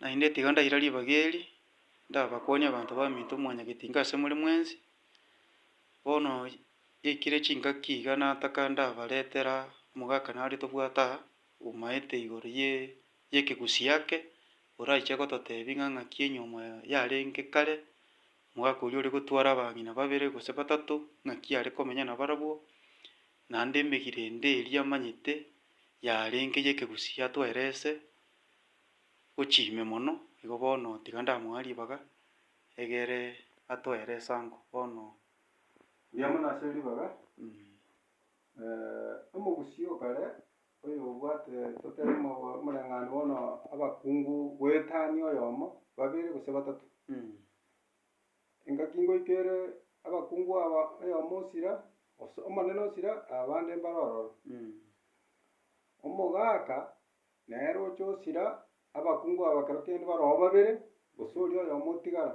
Naende tiga ndaira ribaga eri, ndabakwanie abanto b'aminto mwanyagete inga ase more mwensi, bono yaikire chingaki iga nataka ndabaretera omogaka nare tobwate aa, omaete igoro ye y'ekegusii ake, oraiche gototebia ng'a ng'aki enyiomo yarenge kare, omogaka oria ore gotwara abang'ina babere gose batato, ng'aki are komenya nabarabwo, Naende emegirende eria amanyete yarenge y'ekegusii yatwaire ase gochia ime mono, igo bono tiga ndamoa ribaga egere atwaire esango. Bono. Buya mono ase ribaga, omogusii o kare oyobwate totebe omoreng'anio bono abakungu goetania oyomo, babere gose batato. Engaki ngoika ere abakungu aba, oyomo osira, os- omonene osira, abande mbare ororo. Omogaka nere oche osira, abakungu aba ekero kende baroo babere, gose oria oyomo otigara.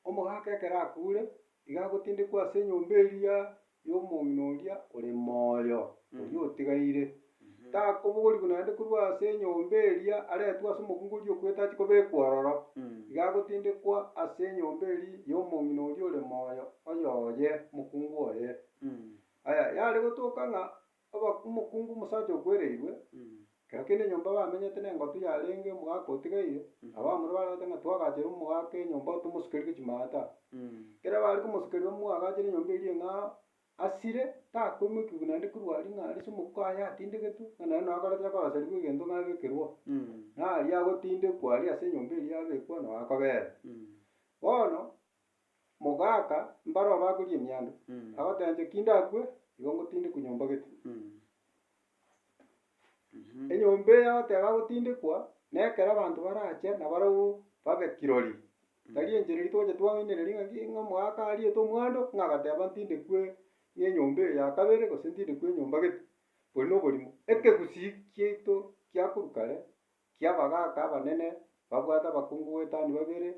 Omogaka ekero akure, iga agotindekwa ase enyomba eria y'omong'ina oria ore moyo, oria otigaire, takobogorigwa naende korwa ase enyomba eria aretwe ase omokungu oria okwete ache kobekwa ororo, iga agotindekwa ase enyomba eria y'omong'ina oria ore moyo, oyoye, omokungu oye. Aya, yare gotoka ng'a Oba omokungu omosacha okwereirwe, kero kende enyomba bamenyete nengotu yarenge omogaka otigaire, abamura barabete ng'a twagachere omogaka enyomba tomosukerige chimaata. Ekero bare komosukerera omwagachere enyomba eria ng'a asire, takoimokiwa naende korwa aria ng'a arise omokuku aye atindegetwe, ng'a naende noo akoreta akorasarigwe egento ng'a abekerwa. Naye aria agotindekwa aria ase enyomba eria abekwa noo akobera. Bono, mogaaka mbare obakorie emianda, agoteebia ki ndakwe, igo ngotindekwa nyomba gete. Enyomba eye agoteeba agotindekwa, na ekero abanto barache na barabwo babe kirori, tari enchera eria togocha twaoinereria ng'aki ng'a omogaaka ariete omwando ng'a agateba ntindekwe ng'a enyomba eye ya kabere gose ntindekwe enyomba gete, bori na oborimo. Ekegusii kiaito kia korwa kare, kia abagaaka abanene, babwate abakungu goetania babere,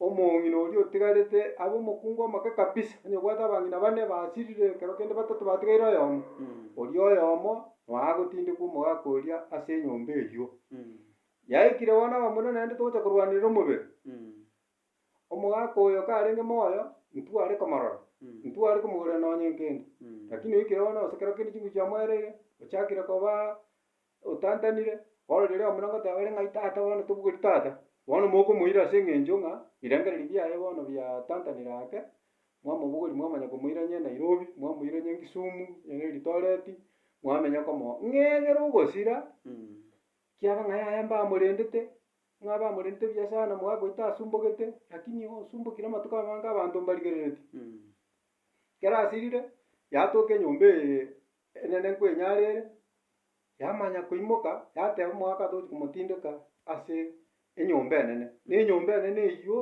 Omong'ina oria otigarete abe omokungu omoke kabisa, onye obwate abang'ina bane basirire, ekero kende batato batigaire oyomo, oria oyomo noagotindekwa omogaka oria ase enyomba eyio. Yaikire bono abamura naende togocha korwanerera omobere. Omogaka oyo karenge moyo, intwe are komorora, intwe are komogorera nonye nkende. Lakini oikire bono gose ekero kende chinguru chiamoereire, ochakire koba Otantanire, bono riria omura ngoteeba ere ng'ai tata bono tobugeri tata, bono mokomoira ase eng'encho ng'a birengererio biaye bono biatantanire ake, mwamobogori mwamanya komoira onye Nairobi, mwamoira onye Kisumu, onye Eldoret, mwamenya komo ng'a egere ogosira, kiaba ng'a yaya mbamorendete, ng'a bamorendete buya sana mwagoita asumbogete, lakini osumbokire amatuko amange abanto mbarigereretie. Ekero asirire, yatoka enyomba eye. Enyene kwenyarere, yamanya koimoka, yateba omoaka tochi komotindeka ase enyomba enene. Na enyomba enene eyio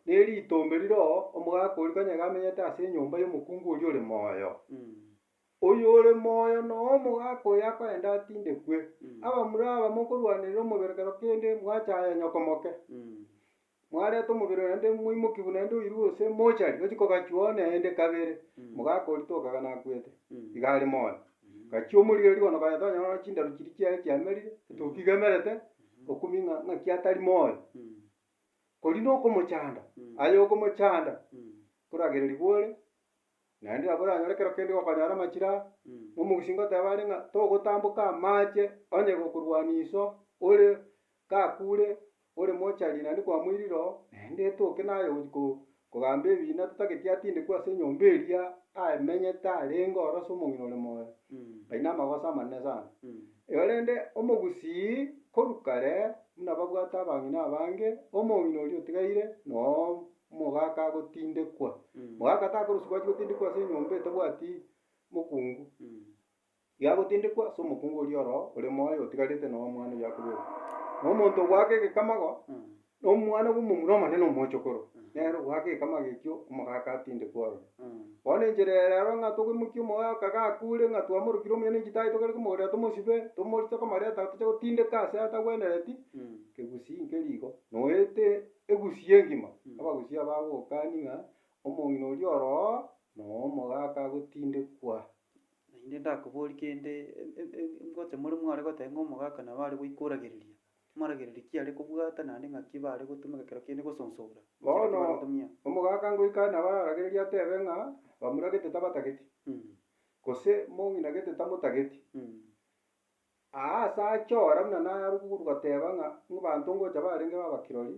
neri itombe rire oo, omogaaka oria kanye iga amenyete ase enyomba y'omokungu oria ore moyo. Oyo ore moyo na omogaaka oyo akoenda atindekwe. Abamura aba mokorwanerera omoberekero kende, mwachaya nyoko moke. Mwareta omobere oye naende moimokiwu naende oirwe gose mochari, ochia kogachua one naende kabere, mogaka oritwe okaga nakwete, iga are moyo. Gachia omorire rirogo na okagenda onyora nonya chindaru chiria chiaye chiamerire, etoki iga emerete, okumia ng'a ng'aki atari moyo. Korende okomochanda, aye okomochanda, koragera riboore, Naende nabo oranyore ekero kende gokonyara amachira aa, omogusi ngoteba are ng'a togotamboka amache onye gokorwania iso ore gakure ore mochari naende kwamoirire oo, naende etoke naye gochia ko- kogamba ebiina totageti atindekwe ase enyomba eria amenyete arenge ororo ase omong'ina ore moyo. Ayio namagoso amanene sana. Igo rende omogusii korwa kare buna babwate abang'ina abange, omong'ina oria otigaire noo omogaka agotindekwa, omogaka takorosiwa gwachi gotindekwa ase enyomba etabwati mokungu, iga agotindekwa ase omokungu oria oroo ore moyo otigarete na omwana oyio akoberwa. Na omonto ogoaka egekamago, na omwana bwa omomura omonene omochokoro, nere ogoaka egekamago ekio omogaka atindekwa ororo. Bono enchera eye rero ng'a togoimokia omogaka gakure ng'a twamorokire omuya na inche tari tokare komogorera tomosibe, tomorise komareta toche gotindeka ase atagwenereti, kegusii nkeri igo, noete. Egusia engima abagusia bagokani ng'a omong'ina oria oroo noo omogaka agotindekwa. Naende ndakobori kende, ngocha more mware goteba ng'a omogaka nabo are goika oragereria, moragereria ki are kobwata naende ng'aki bare gotumeka ekero kende gosonsora. Bono omogaka ngoika are nabo araragererie atebe ng'a bamura gete tabatageti, gose mong'ina gete tamotageti. Aa ase aachora buna narubu korwa goteba ng'a ng'abanto ngocha barenge baba kirori,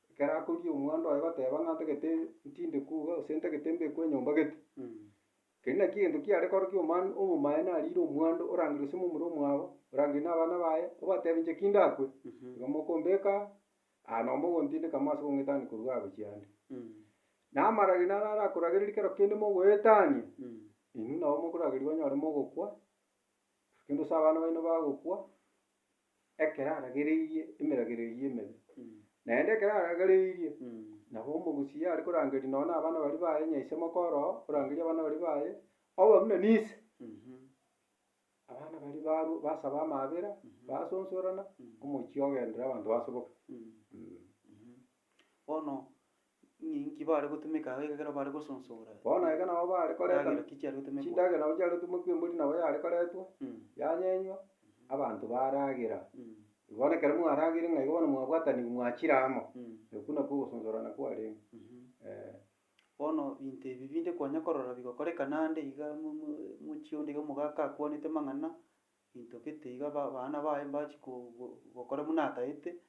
ekero akoria omwando oye goteba ng'a ntagete ntinde kwo iga gose ntagete mbekwe enyomba gete. Keri naki egento kiare korokia omano omomaye narire omwando orangire gose momura omwabo, orangire na abana baye, obatebie inche ki ndakwe, igo mokombeka aa, aa nabo mogontindeka amo ase kong'etania korwa iga gochia ande. Na amarageri naro arakoragereria kero kende mogoetania, inwe nabo mokorageria banyore mogokwa, Naende gose abana baino bagokwa, ekero aragereirie emeragera eyio emebe. Naende ekero aragereirie, nabo omogusia are korangeria nonya na abana baria baye, onye ise moka oroo, orangerie abana baria baye, obe buna nise. Abana baria barwa basaba amaabera, basosorana, omochie ogendere abanto basoboke. Bono Ninki bare gotumeka agwo ekero bare gosonsora? Bono eke nabo bare koreta Chindagera ki chiare gotumekwa? chindagera nabo chiare gotumekwa embori nabo yare koretwa, Mm. yanyenywa, abanto baragera. Mm. Bono ekero mwaragire ng'a igo bono mwabwatanigwe mwachire amo, Mm. okwo nakwo ogosonsorana kwarenge. Mhm. Eh. Bono binto ebi binde konya korora bigokorekana ande iga mo- mo- mochie onde iga omogaka akwanete amang'ana, binto gete iga ba- abana baye mbachi ko- go- gokora buna ataete,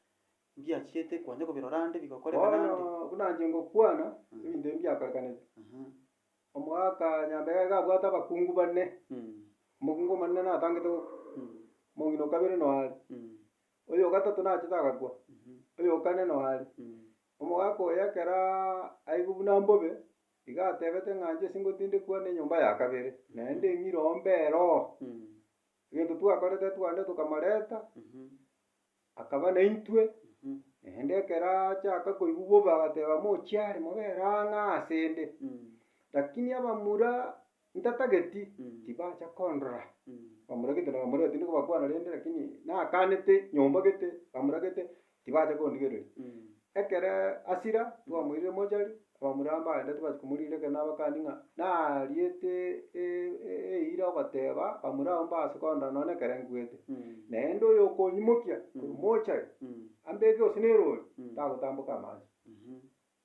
Mbiachiete kwanja kobirora ande bigokoreka Bono naende? buna inche ngokwana, ebinto ebi mbiakorekanete. Aha. Omogaka Nyambega iga abwate abakungu bane, Mm. omokungu omonene natangete gokwa, Mm. omong'ina o kabere noyo are, Mm. oyo o gatato nachete agakwa, Mhm. oyo o kane noyo are. Mm. Omogaka oyo ekero aigwe buna mbobe, iga atebete ng'a inche singotindekwa nenyomba ya kabere, naende eng'iroo mbero. Mm. Egento twakorete twande tokamoreta. Mhm. Akaba naintwe, naende ekero achaka koigwa bobe agateba, Mochiare, mobere ang'aa asende. Lakini abamura ntatageti, tibacha kondora. Bamura gete na bamura tindi kobakwana rende, lakini nakanete nyomba gete, bamura gete, tibacha kondigereria. Ekero Asira twamoirire mochari, abamuramba agende tibachie komoriira ekero nabakani ng'a nariete eira ogoteba bamura abwo mbase kondora nonya ekero nkuete. Naende oyokonyimokia korwa mochari ambeke gose nerori tagotamboka amanche.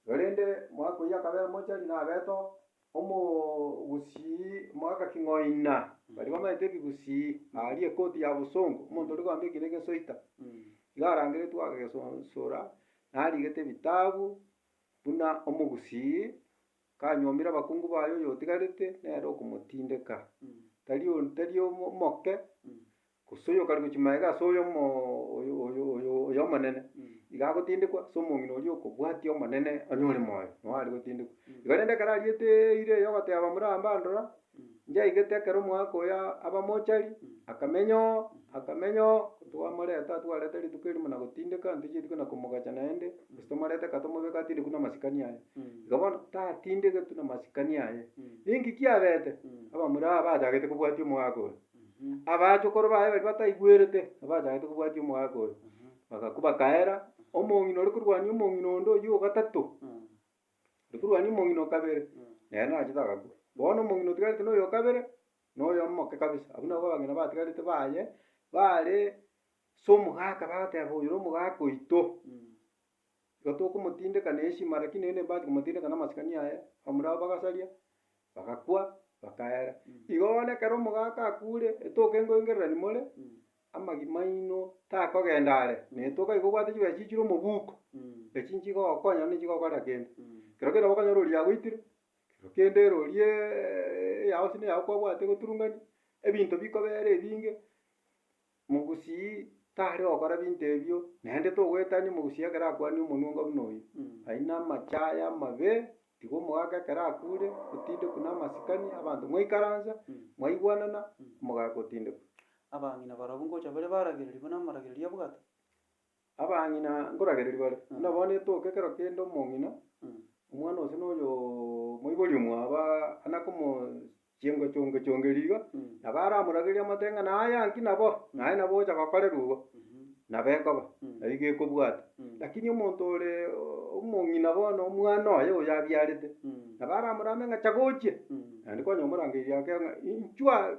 Korende mwaka oyio akabera mochari nabete oo. Omogusii omogaka king'oina, baria bamenyete ebigusii, aaria ekoti ya bosongo, omonto oria okoamba ekina egesoita, iga arangeretwe agesonsora, narigete ebitabu, buna omogusii kanyuomire abakungu baye oyotigarete, nere okomotindeka. Tari o- tari omo- omoke. Gose oyo okarigia gochia magega ase oy'omonene, igo agotindekwa, ase omong'ina oria okobwatia Omonene onye ore moyo, nao are gotindekwa. Igo rende ekero ariete eira eria ogoteba Aburaham, Rora, nchaigete ekero omwaka oyo aba mochari, akamenya oo, akamenya oo, twamoreta aa twareta rituko erio buna gotindeka, ntochie rituko na komogacha naende, gose tomorete kaa tomobeka atindekwe na amasikani aye. Igo bono, tatindegetwe na amasikani aye. Ninki kiabete? Abamura aba bachagete kobwatia omwaka oyo. Abachokoro baye baria bataigwerete, abachagete kobwatia omogaka oyo, bagakwa bakaera omong'ina ore korwania omong'ina onde oyio ogatato, ore korwania omong'ina o kabere, nere nachete agakwa. Bono omong'ina otigarete noyo o kabere, noyo omoke kabisa. Abwo nabwo abang'ina batigarete baye, bare ase omogaka bagoteba oyo nomogaka oito. Igo tokomotindeka neshima, rakini naende mbati komotindeka namasikani aye, abamura abo bagasaria, bagakwa, bakaera. Igo bono ekero omogaka akure, etoke nkoengererani more, amagima aino takogenda are, na etoke aye kobwate chibesa chichire omobuko, echi nchigokonya naende nchigokora kende. Kero kende okonyora oria yagoitire, kero kende ere oriaaa eyao gose neyao kwabwate goturungania, ebinto bikobera ebinge. Mogusii tare gokora binto ebio, naende togoetania omogusii ekero akwanire omonwongo buna oyio. Aine amache aye amabe, tiga omogaka ekero akure, otindekwe namasikani, abanto mwaikaransa, mwaigwanana, omogaka otindekwe. Abang'ina barabwo ngocha bare baragereria buna amaragererio a bwato, Abang'ina nkoragereria bare, buna bono etoke ekero kende omong'ina, omwana ose na oyoo moibori omwabo aa nakomo chiengo chonge chongeri iga, nabo aramoragereria amate ng'a naye anki nabo, naye nabo ogocha gokorerwa igo, nabo ekoba, nabo igo ekobwata. Lakini omonto ore omong'ina bono omwana oye oyo abiarete, nabo aramorame ng'a cha gochia, naende kwanyora omorangeirie ake ng'a inchuaa.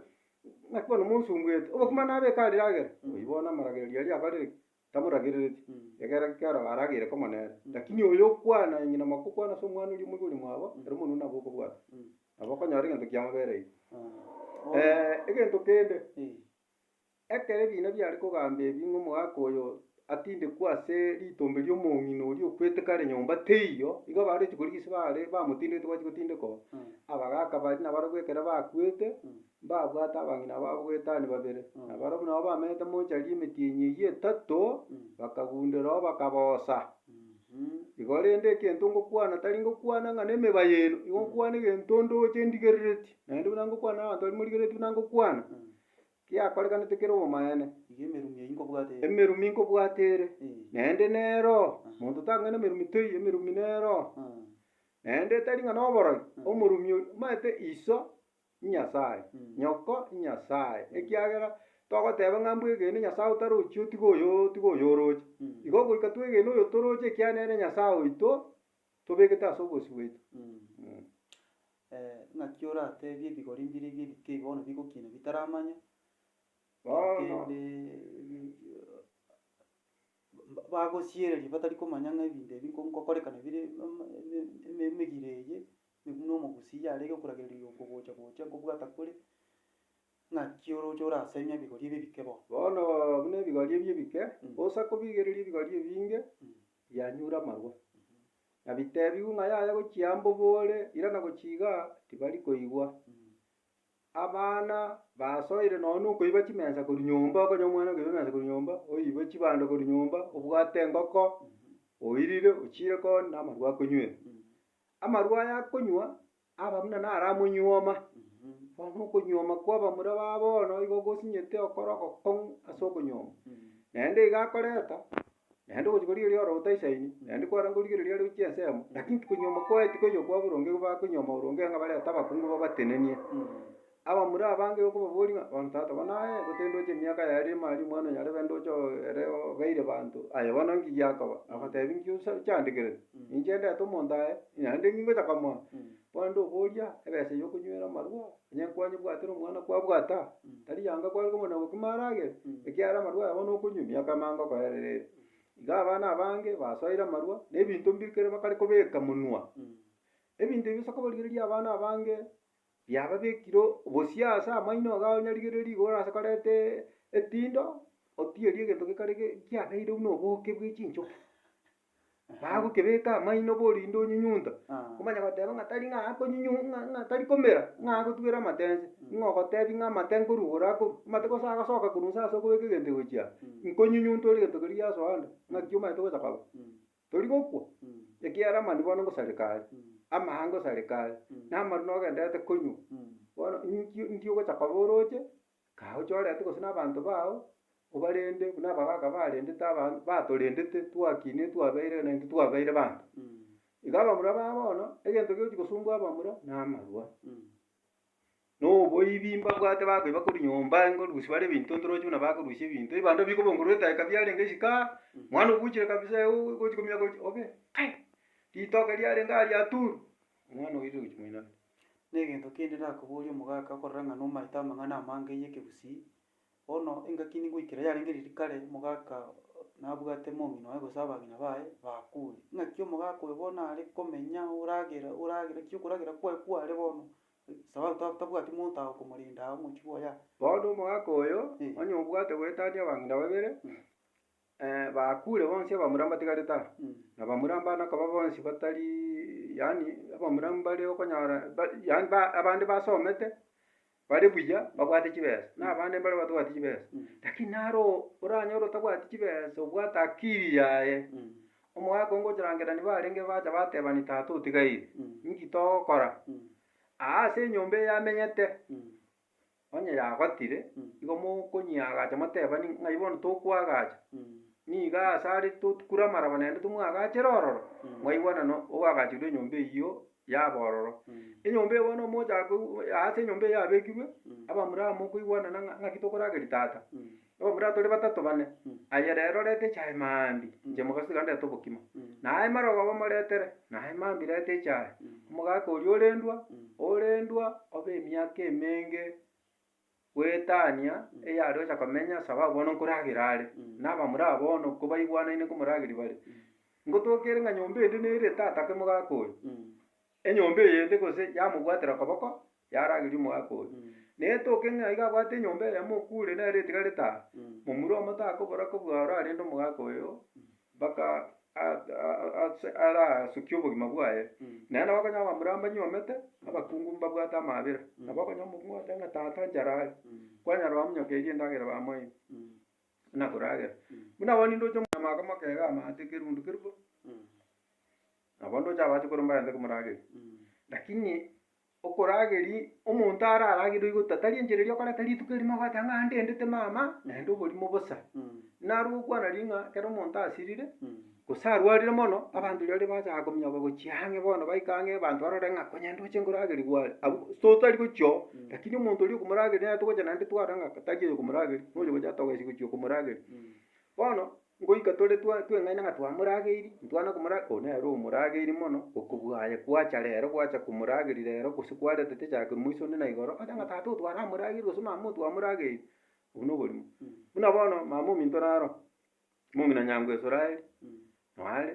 Naki bono monsungete, obokima nabeke arire agere, oyio bono amaragererio aria abarire ki? Tamoragerereti. Mm. Egere ekero baragere komonene, Mm. lakini oyo okwana eng'ina amaka okwana ase omwana oria omoibori mwabo, Mm. ere omonwe nabo okobwata, Mm. nabo okonyora egento kiamobere ime. Ah. egento kende, Eh. ekero ebiina biare kogamba ebi ng'a omogaka oyo atindekwe ase ritombe ri'omong'ina oria okwete kare nyomba, teiyo? Igo abaruti koria gese baare bamotindegete gwachi gotindekwa, abagaaka baria nabarabwo ekero bakwete, mbabwate abang'ina babo goetania babere, na barabwo nabo bamenyete mochari emetienyi eyio etato, bakagundera oo bakaboosa. Igo rende egento ngokwana tari ngokwana ng'a nemeba yaino, igo nkwana egento ndoche ndigereretie, naende buna ngokwana na abanto baria morigereretie buna ngokwana. Kiakorekanete kere obomaene. Iga emerumi eyio nkobwate ere. Emerumi nkobwate ere. Naende nero. Monto tang'aini emerumi toiyo, emerumi nero. Naende tari ng'a noboroi, omorumi oria omanyete iso inyasae, nyoko inyasae, ekiagera togoteba ng'a mbwe egene nyasae otarochi otiga oyo otiga oyo oroche. Igo goika twegene oyo toroche ekiagera nere nyasae oito tobegete ase obosio bwaito. Ee, naki orateebie ebigori mbire ebi ebitei bono bigokiina bitaramanya, korende bagosiereria batari komanya ng'a ebinto ebi nko nkokorekana bire eme eme eme emegire eye, buna omogusii yarenge okoragereria okogocha gocha nkobwata kore, naki oroche orasemie ebigori ebi ebike bono. Bono buna ebigori ebi ebike, osa kobigereria ebigori ebinge, bianyure amarwa, na biteebigwe ng'a yaya gochia mbobore, irana gochia iga tibari koigwa. Abana basoire nonye nokoiba chimensa korwa nyomba, okonye omwana okoiba emensa korwa nyomba, oibe chibando korwa nyomba, obwate engoko, oirire, ochiire koo namarwa akonywere. Amarwa aya akonywa. Aba buna naramonyuoma, bono okonyuoma kw'abamura ba bono igo gosinyete okore ogokong'u ase okonyuoma. Naende iga akoreta, naende ogochia korigereria ore otaisaini, naende kwarenge korigereria are gochia ensemo, lakini tikonyuoma kwaye tikoiyo kwa boronge igo bakonyuoma boronge ng'a barente abakungu babatenenie. Abamura abange okobaboria, Bono tata bono aye, gotendoche emiaka yaye ere emari, omwana onyarebe ndoche oo ere obeire banto, aye bono nki giakoba? Agotebi, Inki osa ochaandekerete? Ninche ndete omonto aye, naende ninki ngocha komoa? Bono ndoboria, ebesa y'okonywera amarwa, onye nkwanyebwatire omwana kwabwata? Tari yanga kware kobuna obokima aragere? Ekiagera amarwa aya bono okonywa, emiaka emo angokoerera ere. Iga abana abange basoire amarwa, na ebinto mbire kere bakare kobeka monwa. Ebinto ebi osa kobarigereria abana abange. Yababekire bosio ase amaino iga onyarigererie igoro ase koreta epindo, otierie egento gekare kiabeire buna oboke bwe chinchoki. Bagokebeka amaino bo rinde onyinyunte, omanye goteba ng'a tari ng'a akonyinyun ng'a ng'a tari komera ng'a agotugera amatense, ng'a ogotebia ng'a amate nkorwa igoro akorwa, amate gose agasoka korwa inse ase okobeka egento egochia aa, nkonyinyunte ore egento keria giasoa ande, naki omanyete gocha korwa. Tori gokwa, ekiagera amani bono ngosareka are, amaha ngosareka are, na amaru nogenderete konywa. Bono inkio inki ogocha koba oroche, kae ochorete gose na abanto bao, obarende buna abagaka barendete abana batorendete twakina etwabeire na intwe twabeire banto. Iga abamura ba bono, egento gegochi gosumbua abamura, na amarwa. Noboibi mbabwate bakoiba korwa nyomba, engorusia bare ebinto ntoroche buna bakorusia ebinto, ebando bikobongorwa etaeka biarenge isiko aa, mwana obuchire kabisa euu gochi komia gochi obe kai ritoke riarenge aa riaturu, omwana oirire gochi moino. Negento kende nakoboria omogaka okorora ng'a nomaete amang'ana amange ya Ekegusii, bono engaki ningoikera yarenge riria kare omogaka nabwate momino oye gose abang'ina baye bakure. Ng'aki omogaka oyo bono are komenya oragera oragera ki okoragera kwaye kware bono Sabato aba tabwati monto ago komorenda ao mochie boyao. Bono omogaka oyo onye obwate goetania abang'ina babere, bakure bonsi abamura mbatigarete aa, na abamura mbana koba bonsi batari yaani abamura mbare okonyora ba- yaani ba- abande basomete, bare buya, babwate chibesa, na abande mbare batabwati chibesa. Lakini naro oranyore otabwati chibesa obwate akiri yaye, Omogaka o ngochorangera nibarenge bacha batebani tata otigaire, inki togokora? Aa ase enyomba eye amenyete, onye yagotire, igo mokonyiagacha motebani ng'ai bono tokwagacha, niga ase are totkure amaraba naende tomwagachere ororo, mwaigwana no ogagachirwe enyomba eyio yaba ororo. Enyomba eye bono omochaka aa ase enyomba eye yabekirwe, Abamuramu okoigwanana ng'a ng'aki tokorageria tata? Nobura tore batato bane, aye rero reta echae mambia, inche mogaso iga ndete obokima. Naye marogoba moretere, naye mambia reta echae. Omogaka oria orendwa, orendwa obe emiaka emenge goetania eyare gocha komenya sababu bono nkoragera are, na abamura aba bono kobaigwanaine nkomorageria bare. Ngotoka ere ng'a nyomba ende nere tata ake mogaka oyo. Enyomba eyende gose yamobwatera okoboko, yarageria omoaka oria. Na etoke ng'a iga abwate enyomba eyemo okure nere etigarete aa, momura omoto akobora kobua orarende omogaaka oyo mpaka arasukie obogima bwaye. Naende nabo okonyora abamura mbanyuomete, abakungu mbabwate amaabera. Nabo okonyora omokungu agoteeba ng'a tata inche raaria, kwanyara bamonyokerie endagera bamoe buna koragera. Buna abwo ninde oche omonyamaka omoke iga amaate kerundu kerubo. Nabo ndoche abache korwa mbarente komorageri. Lakini okorageri, omonto araragerwe igo tatari enchera eria okoreta rituko erimo agoeta ng'a ndendete mama, naende oborimo bosa. Naro gokwana riria ng'a ekero omonto asirire, gose arwarire mono, abanto riria baria bagochaka kominyoka gochia ang'e bono baika ang'e abanto barore ng'a konya ndoche nkorageri gware. Abwo totari gochia oo, lakini omonto oria okomorageria nere togocha naende twarora ng'a tari oyo okomorageri, noyo ogocha togesie gochia okomorageri. Bono. Ngoika tore twa tweng'aina ng'a twamorageirie, ntwana komora oo nere omorageirie mono, okobua aye kwacha rero gwacha komorageri rero gose kwaretete chake moiso onde na igoro, ocha ng'a tata oo twaramorageiri gose mama oo twamorageiri, obwo na oborimo. Buna bono mama ominto naro, momino nyango Israeli, noyo are.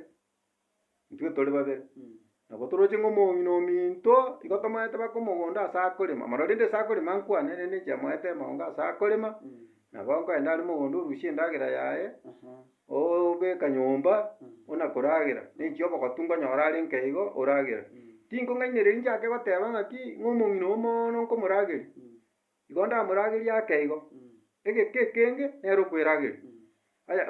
intwe tore babere, nabo toroche ng'a omong'ina ominto igo tomaete baka omogondo ase akorema mono rende ase akorema nkwane rende inche moete amaongo ase akorema, nabo nkoenda are mogondo orusie endagera yaye, obeka nyomba, buna koragera, naechia obogotu nkonyora are nka igo oragera. Tingong'ainereria nchake goteba ng'aki ng'a omong'ina oyo mooono nkomorageria, igo ndamoragerie ake igo, egeka ekenge nere okwerageria. Aya.